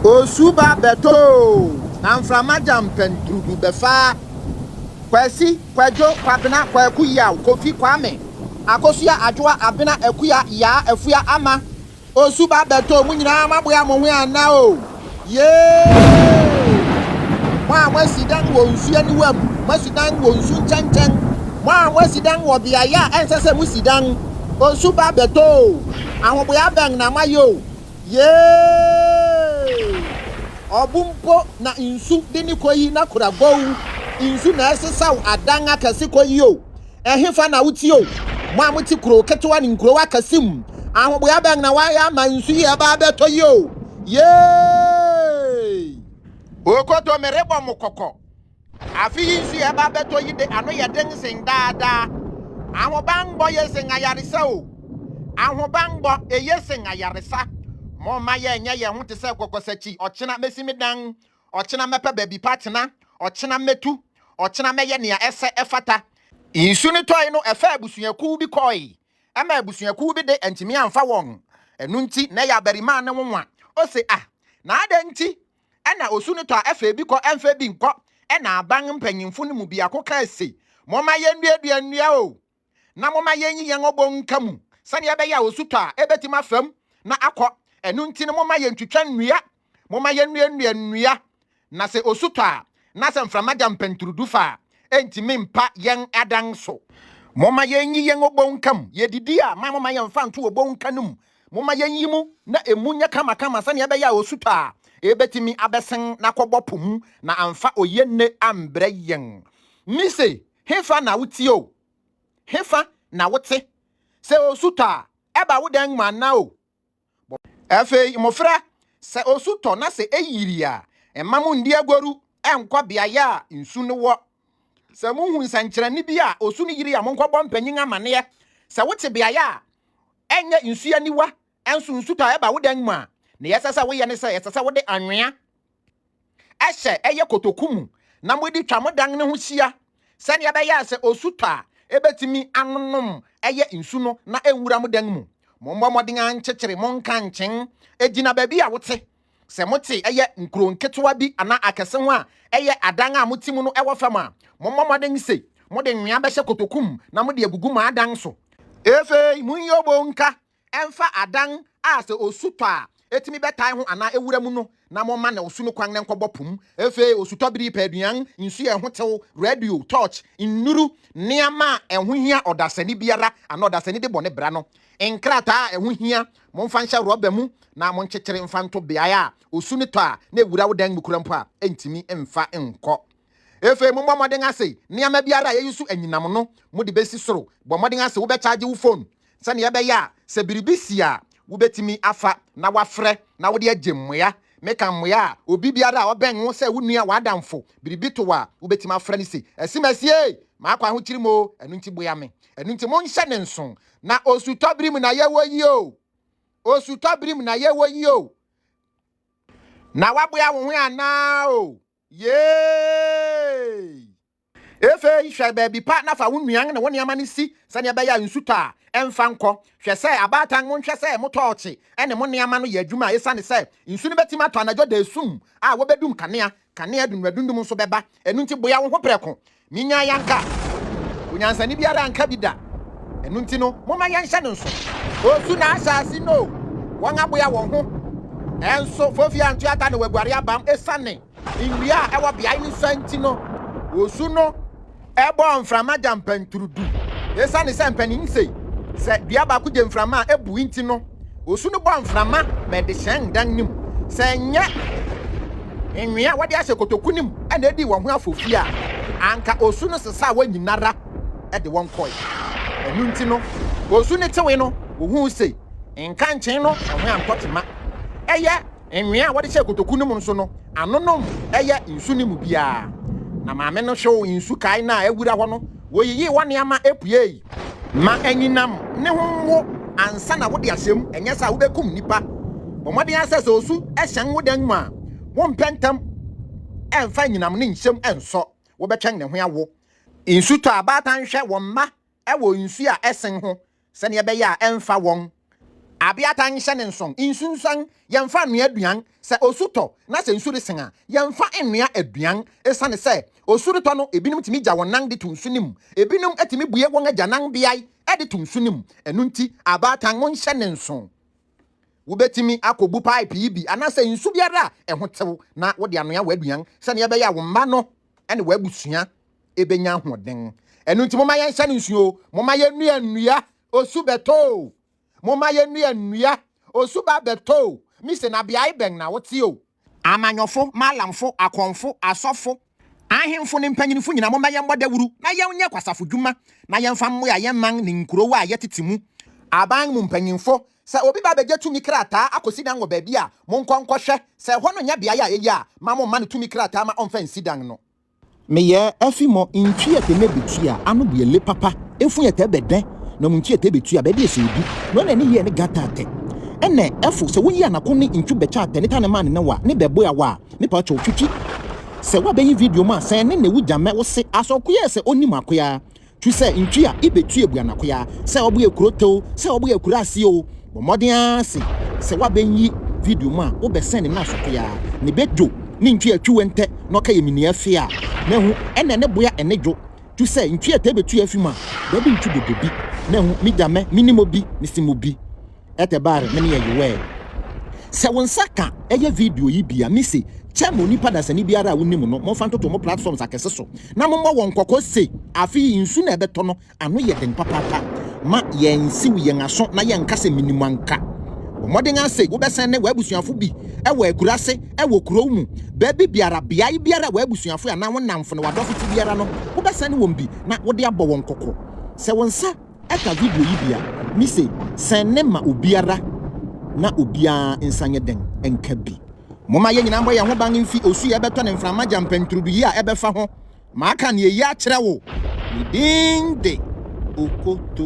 Osu ba bɛtɔ oo, na mframa gya mpɛnturudu bɛfa. Kwasi, Kwadwo, Kwabena, Kwaku, Yaw, Kofi, Kwame, Akosua, Adwoa, Abena, Akua, Yaa, Afua, Ama. Osu ba bɛtɔ mo nyinaa a moaboa mo ho ana o? Yee! Mo a moasi dan wɔ nsu aniwa mu, moasi dan wɔ nsu nkyɛnkyɛn, mo a moasi dan wɔ beae a ɛnsɛ sɛ mosi dan, osu ba bɛtɔ o! Ahoboa bɛn na moayɛ o? Yee! Ɔbo mpo na nsu de no kɔ yi na kora gow, nsu na ɛsesaw adan akɛse kɔ yi o! Ɛhefa na wotie o, mo a mote kurow ketewa ne nkurow akɛse mu? Ahoboa bɛn na wɔayɛ ama nsu yi a ɛba abɛtɔ yi o? Yay! O Koto, merebɔ mo kɔkɔ. Afe yi nsu a ɛba abɛtɔ yi de, ano yɛ den sen daa daa. Ahobammɔ ye sen ayaresa o. Ahobammɔ, eye sen ayaresa. Momma yɛnyɛ yɛn ho te sɛ kɔkɔsakyi, ɔkyena mesi me dan Ɔkyena mɛpɛ baabi pa atena. Ɔkyena mɛtu. Ɔkyena mɛyɛ nea ɛsɛ ɛfata. Nsu no tɔe no, ɛfaa abusuakuw bi kɔe. Ɛma abusuakuw bi de antumi amfa wɔn. Ɛno nti, na ɛyɛ abarimaa no nwonwa. Ose, Ah, na adɛn nti na osu no tɔ a ɛfa ebi kɔ, ɛmfa ebi nkɔ? Ɛnna aban mpanyimfo no mu biako kae se, Momma yennuadua nnua o! na momma yɛnyi yɛn obon nka mu sɛnea ɛbɛyɛ a osutɔ a ebetumi afa mu na akɔ. Ɛno nti no, momma yentwitwa nnua, momma yennuannua nnua, na sɛ osutɔ a, na sɛ mframa gya mpɛnturudu fa a, entumi mpa yɛn adan so. Momma yennyi yɛn obon nka mu. Yedidi a, mma momma yɛmfa nto obon nka no mu. Momma yenyi mu na emu nyɛ kamakama sɛnea ɛbɛyɛ a osutɔ a, ebetumi abɛsen na akɔbɔ po mu na amfa oye nne ambrɛ yɛn. Misee, Hefa na wotie o, hefa na wote? Sɛ osu tɔ a, ɛba wo dan mu anaa o? Bɔ. Afei, mmofra, sɛ osu tɔ na sɛ eyiri a, mma munndi agoru nkɔ beae a nsu no wɔ. Sɛ muhu nsɛnkyerɛnne bi a osu no yiri a, monkɔbɔ mpanyin amanneɛ. Sɛ wote beae a ɛnyɛ nsu aniwa nso nsu tɔ a ɛba wo dan mu a, nea ɛsɛ sɛ woyɛ ne sɛ ɛsɛ sɛ wode anwea Ɛsɛ ɛyɛ kotoku mu na mode twa mo dan no ho hyia sɛnea ɛbɛyɛ a sɛ osu tɔ a, ebetumi anonom ɛyɛ nsu no na enwura mo dan mu. Mommɔ mmɔden ara nkyekyere mo nkankyen. Egyina baabi a wote. Sɛ mote ɛyɛ nkurow nketewa bi anaa akɛse ho a ɛyɛ adan a mote mu no wɔ fam a, mommɔ mmɔden sɛ mode nwea bɛhyɛ kotoku mu na mode agugu mo adan so. Afei monyɛ obonka Ɛmfa adan a sɛ osu tɔ a etumi bɛtae ho anaa ewura mu no, na momma nea osu no kwan na ɛnkɔbɔ po mu. Afei osutɔbere yi, pɛ aduan, nsu a ɛho tew, radio, torch, nnuru, nneɛma a ɛho hia ɔdasani biara anaa ɔdasani de bɔ ne bra no, nkrataa a ɛho hia. Momfa nhyɛ rɔba mu na monkyekyere mfa nto beae a osu no tɔ a na ewura wo dan mu kura mpo a, entumi mfa nkɔ. Afei mommɔ mmɔden ase nneɛma biara a eyi so anyinam no mode besi soro. Bɔ mmɔden ase wobɛkyagye wo fon sɛnea ɛbɛyɛ a sɛ biribi si a wubetumi afa na woafrɛ na wode agye mmoa. Meka mmoa a obi biara a ɔbɛn wo sɛ wo nua, w'adamfo, biribi to wo a wubetumi afrɛ no se, Asimasie! M'akɔ ahokyere mu oo, ɛno nti boa me. Ɛno nti monhyɛ ne nson. Na osutɔbere mu na yɛwɔ yi oo. Osutɔbere mu na yɛwɔ yi oo. Na woaboa wo ho anaa oo? Yay! Afei hwɛ baabi pa na fa wo nnuan ne wo nneɛma no si sɛnea ɛbɛyɛ a nsu tɔ a, ɛmfa nkɔ. Hwɛ sɛ abaatan monhwɛ sɛ mo tɔɔkye ne mo nneɛma no yɛ adwuma esiane sɛ nsu no betumi atɔ anadwo da esum a wobedum kanea, kanea adundum adundum nso bɛba. Ɛno nti boa wo ho prɛko. Minyaa yi anka onyansani biara anka bi da, ɛno nti no momma yɛnhyɛ no nso. Osu na ahyɛ ase no o, wɔaboa wɔn ho nso, Fofie Antuata na waguare abam esiane nnua a ɛwɔ beae no sua nti no, osu no bɔɔ mframa gyampanturu du. Esiane sɛ mpanin se sɛ dua baako gye mframa a, ebu nti no, Osu no bɔ mframa ma ɛde hyɛn dan no mu. Sɛ ɛnyɛ nwea a wɔde ahyɛ kotoku no mu na edii wɔn ho afofia a, anka osu no sesaa wɔn nyinara de wɔn kɔe. Ɛno nti no, osu no tewee no, wohui se nkankyee no ho antɔ tema. Ɛyɛ nwea a wɔde hyɛɛ kotoku no mu nso no, ano nom yɛ nsu no mu biara. Na maame no hwew nsu kae no a awura hɔ no, woyiyii hɔ nneɛma puei. Ma anyinam ne ho nwo ansa na wode ahyɛ mu, ɛnyɛ saa wobɛkum nnipa. Bɔ mmɔden ara sɛ sɛ osu hyɛn wo dan mu a, wompɛ ntɛm ɛmfa anyinam ne nhyɛm ɛnsɔ, wobɛtwɛn ne ho awo. Nsu tɔ a, abaatan hwɛ wɔn mma wɔ nsu a ɛsen ho sɛdeɛ ɛbɛyɛ a ɛmfa wɔn. Abeata nhyɛ ne nson, nsunsuan, Yɛmfa nnoa aduan, sɛ osu tɔ na sɛ nsu resen a, yɛmfa nnoa aduan. Esiane sɛ osu retɔ no, ebinom tumi gya wɔn nan de to nsu no mu. Ebinom tumi bue wɔn agyanan beae de to nsu no mu. Ɛno nti, abaatan nhyɛ ne nson. Wubetumi akobu paepo yi bi anaasɛ nsu biara a ɛho tew na wode anoa w'aduan sɛnea ɛbɛyɛ a wo mma no ne w'abusua benya ahoɔden. Ɛno nti, momma yɛnhyɛ no nsu oo, momma yennua nnua Osu bɛtɔ o, momma yɛnnua nnua, osu ba bɛtɔ o, mise na beae bɛn na wote o? Amanyɔfo, Mallamfo, Akɔmfo, Asɔfo, Ahemfo ne mpanyinfo nyinaa momma yɛmmɔ dawuru na yɛnyɛ kwasafo dwuma na yɛmfa mmoa yɛn man ne nkurow a yɛtete mu. Aban mu mpanyinfo, sɛ obi ba begye tumi krataa akosi dan wɔ baabi a, monkɔ nkɔhwɛ, sɛ ɛhɔ no nyɛ beae a eye a, mma momma no tumi krataa ma ɔmfa nsi dan no. Meyɛ afi mɔ ntwi ɛtɛ mɛ bɛtwi a ano bɛ le papa ɛfu ɛtɛ bɛ dɛ na mu ntwi ɛtɛ bɛtwi a bɛ deɛ sɛ obi no na ɛne yɛ ne ga ta tɛ ɛnɛ ɛfo sɛ wo yi anako ne ntwi bɛ kya tɛ ne ta ne ma ne ne wa ne bɛ bɔ a wa me pa kyɛw twitwi sɛ wa bɛ yi video mu a sɛ ne ne wo gya mɛ wo se asɔ koyɛ sɛ ɔnim akoyaa Tu sɛ ntwi a ibetu ebu anakoyaa, sɛ ɔbo yɛ kuro tew, sɛ ɔbo yɛ kuro ase oo, bɔ mmɔden ara se sɛ woabenyi video mu a wobɛsɛn ne nan so koyaa, ne be dwo, ne ntwi a twiwe ntɛ na ɔka yɛ minia fee a na ehu ɛna ne boya ɛne dwo. Tu sɛ ntwi a tɛ betu afi mu a, dabi ntwi dodo bi na ehu, me gya mɛ, minim obi, mese mo bi. ɛtɛ baare mene yɛ yowɛɛ. Sɛ wo nsa ka ɛyɛ video yi bi a, me se kyɛ ma onipa dasani biara a wo nim no, mo nfa ntoto mo platforms akɛse so na mo mmɔ wɔn kɔkɔ se afe yi nsu na ɛbɛtɔ no ano yɛ den papaapa. Ma yɛn nsiw yɛn aso na yɛn nka se menim anka. Bɔ mmɔden ara se wo bɛsɛn ne w'abusuafo bi ɛwɔ akurase, ɛwɔ kurow mu, baabi biara, beae biara a w'abusuafo anaa wo nnamfo ne w'adɔfo te biara no, wo bɛsɛn wɔn bi na wo de abɔ wɔn kɔkɔ. Sɛ wo nsa. Ɛka video yi bi a, mise sɛn ne ma obiara na obiara nsa nyɛ dɛn nka bi. Momma yɛn nyinaa mmɔ yɛn ho ban mfi osu a ɛbɛtɔ ne mframa gya mpɛnturudu yi a ɛbɛfa ho. Maka nea eyi akyerɛ wo. Ne din de Okoto.